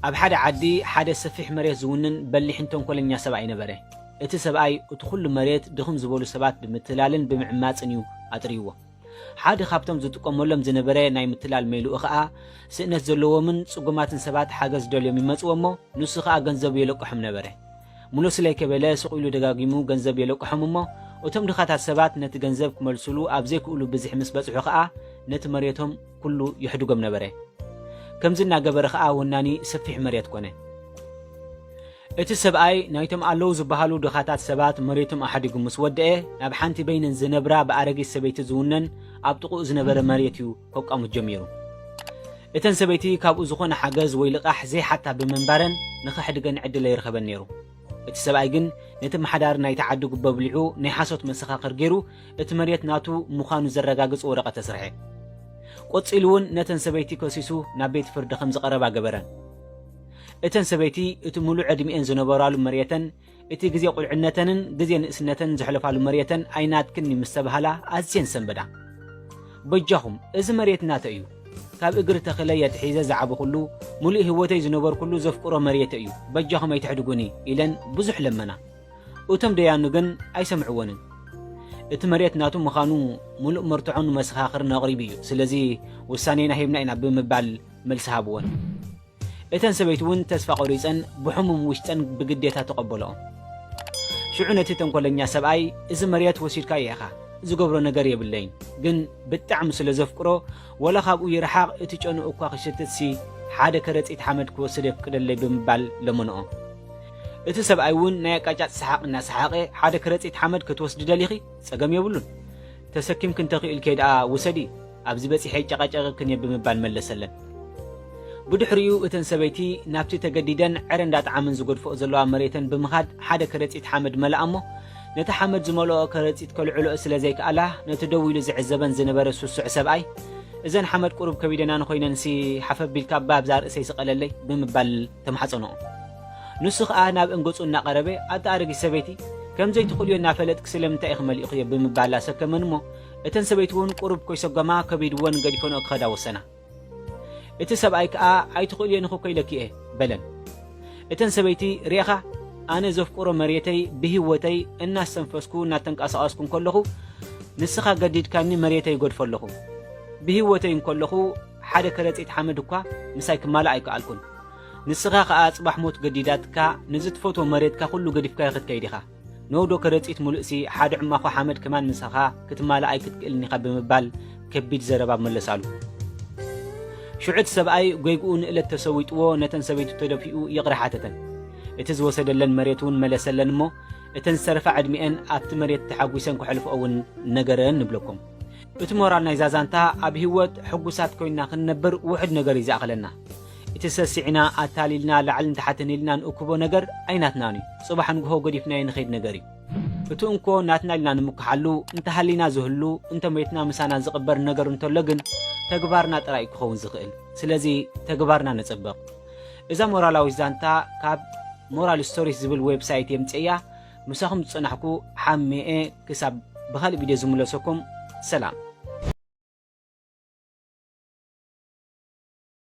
ኣብ ሓደ ዓዲ ሓደ ሰፊሕ መሬት ዝውንን በሊሕን ተንኮለኛ ሰብኣይ ነበረ። እቲ ሰብኣይ እቲ ኩሉ መሬት ድኽም ዝበሉ ሰባት ብምትላልን ብምዕማፅን እዩ ኣጥርይዎ። ሓደ ካብቶም ዝጥቀመሎም ዝነበረ ናይ ምትላል ሜልኡ ከዓ ስእነት ዘለዎምን ፅጉማትን ሰባት ሓገዝ ደልዮም ይመፅዎ እሞ ንሱ ከዓ ገንዘቡ የለቅሖም ነበረ። ሙሉ ስለይ ከበለ ሱቕ ኢሉ ደጋጊሙ ገንዘብ የለቅሖም እሞ እቶም ድኻታት ሰባት ነቲ ገንዘብ ክመልሱሉ ኣብ ዘይክእሉ ብዝሒ ምስ በጽሑ ከኣ ነቲ መሬቶም ኩሉ የሕድጎም ነበረ። ከምዚ እናገበረ ከኣ ወናኒ ሰፊሕ መሬት ኮነ። እቲ ሰብኣይ ናይቶም ኣለዉ ዝበሃሉ ድኻታት ሰባት መሬቶም ኣሕዲጉ ምስ ወደኤ ናብ ሓንቲ በይነን ዝነብራ ብኣረጊት ሰበይቲ ዝውነን ኣብ ጥቕኡ ዝነበረ መሬት እዩ ከቋምት ጀሚሩ። እተን ሰበይቲ ካብኡ ዝኾነ ሓገዝ ወይ ልቓሕ ዘይሓታ ብምንባረን ንኸሕድገን ዕድል ኣይረኸበን ነይሩ። እቲ ሰብኣይ ግን ነቲ ኣመሓዳሪ ናይቲ ዓዲ ጉቦ ኣብሊዑ ናይ ሓሶት መሰኻኽር ገይሩ እቲ መሬት ናቱ ምዃኑ ዘረጋግጽ ወረቐት ኣስርሐ። ቆጺሉ እውን ነተን ሰበይቲ ከሲሱ ናብ ቤት ፍርዲ ከም ዝቐረባ ገበረን። እተን ሰበይቲ እቲ ምሉእ ዕድሚኤን ዝነበራሉ መሬተን እቲ ግዜ ቁልዕነተንን ግዜ ንእስነተን ዘሕለፋሉ መሬተን ኣይናትክን እዩ ምስ ተባህላ ኣዝየን ሰንበዳ። በጃኹም እዚ መሬት ናተይ እዩ፣ ካብ እግሪ ተኽለይ ኣትሒዘ ዝዓበኹሉ፣ ምሉእ ህይወተይ ዝነበርኩሉ ዘፍቅሮ መሬተይ እዩ፣ በጃኹም ኣይትሕድጉኒ ኢለን ብዙሕ ለመና። እቶም ደያኑ ግን ኣይሰምዕወንን። እቲ መሬት ናቱ ምዃኑ ምሉእ መርትዖን መሰኻኽርን ኣቕሪቡ እዩ፣ ስለዚ ውሳኔና ሂብና ኢና ብምባል መልሲ ሃብወን። እተን ሰበይቲ እውን ተስፋ ቈሪጸን ብሕሙም ውሽጠን ብግዴታ ተቐበልኦ። ሽዑ ነቲ ተንኰለኛ ሰብኣይ እዚ መርየት ወሲድካዮ ኢኻ፣ ዝገብሮ ነገር የብለይን፣ ግን ብጣዕሚ ስለ ዘፍቅሮ ወላ ካብኡ ይርሓቕ እቲ ጨንኡ እኳ ክሽትትሲ ሓደ ከረጺት ሓመድ ክወስድ የፍቅደለይ ብምባል ለመንኦ። እቲ ሰብኣይ እውን ናይ ኣቃጫጭ ሰሓቕ እናሰሓቐ ሓደ ከረጺት ሓመድ ክትወስዲ ደሊኺ? ጸገም የብሉን። ተሰኪምኪ እንተኽኢልኪ ደኣ ውሰዲ፣ ኣብዚ በጺሐ ይጨቓጨቐክን እየ ብምባል መለሰለን። ብድሕሪኡ እተን ሰበይቲ ናብቲ ተገዲደን ዕረ እንዳጥዓምን ዝገድፍኦ ዘለዋ መሬተን ብምኻድ ሓደ ከረጺት ሓመድ መልኣ እሞ ነቲ ሓመድ ዝመልኦ ከረጺት ከልዕልኦ ስለ ዘይክኣላ ነቲ ደው ኢሉ ዝዕዘበን ዝነበረ ስሱዕ ሰብኣይ እዘን ሓመድ ቁሩብ ከቢደናን ኾይነንሲ ሓፍ ኣቢልካ እባ ኣብዛ ርእሰይ ስቐለለይ ብምባል ተማሕጸንኦ። ንሱ ከኣ ናብ እንገጹ እናቐረበ፣ ኣቲ ኣረጊት ሰበይቲ፣ ከም ዘይትኽእልዮ እናፈለጥኪ ስለምንታይ ኢኺ መሊእኽዮ? ብምባል ኣሰከመን እሞ፣ እተን ሰበይቲውን ቁሩብ ኮይሰጎማ ከቢድወን ገዲፈንኦ ክኸዳ ወሰና። እቲ ሰብኣይ ከኣ ኣይትኽእልዮን ኢኺ እኮ ኢለኪ እየ። በለን። እተን ሰበይቲ፣ ርኤኻ፣ ኣነ ዘፍቅሮ መሬተይ ብህይወተይ እናስተንፈስኩ እናተንቀሳቐስኩ እንከለኹ፣ ንስኻ ገዲድካኒ መሬተይ እገድፎ ኣለኹ። ብህይወተይ እንከለኹ ሓደ ከረጺት ሓመድ እኳ ምሳይ ክማላእ ኣይከኣልኩን። ንስኻ ከኣ ጽባሕ ሞት ገዲዳትካ ነዚ ትፈትዎ መሬትካ ኩሉ ገዲፍካዮ ክትከይድ ኢኻ ን ዶ ከረጺት ሙሉእሲ ሓደ ዕማኾ ሓመድ ከማን ምሳኻ ክትማላእ ኣይክትክእልን ኢኻ ብምባል ከቢድ ዘረባ መለሳሉ ሽዑ እቲ ሰብኣይ ጎይግኡ ንእለት ተሰዊጥዎ ነተን ሰበይቱ ተደፊኡ ይቕረ ሓተተን እቲ ዝወሰደለን መሬት እውን መለሰለን እሞ እተን ዝተረፋ ዕድሚኤን ኣብቲ መሬት ተሓጒሰን ከሕልፍኦ እውን ነገረን ንብለኩም እቲ ሞራል ናይዛ ዛንታ ኣብ ሂወት ሕጉሳት ኮይና ክንነብር ውሑድ ነገር እዩ ዝኣኽለና እቲ ሰሲዕና ኣታሊልና ላዕልን ታሕትን ኢልና ንእክቦ ነገር ኣይናትናን እዩ፣ ጽባሕ ንግሆ ገዲፍናዮ ንኸይድ ነገር እዩ። እቲ እንኮ ናትና ኢልና ንምክሓሉ፣ እንተ ሃሊና ዝህሉ፣ እንተ ሞይትና ምሳና ዝቕበር ነገር እንተሎ ግን ተግባርና ጥራይ እዩ ክኸውን ዝኽእል። ስለዚ ተግባርና ነጸብቕ። እዛ ሞራላዊት ዛንታ ካብ ሞራል ስቶሪስ ዝብል ዌብሳይት የምጽኤያ ምሳኹም ዝጸናሕኩ ሓሜኤ ክሳብ ብኻልእ ቪድዮ ዝምለሰኩም ሰላም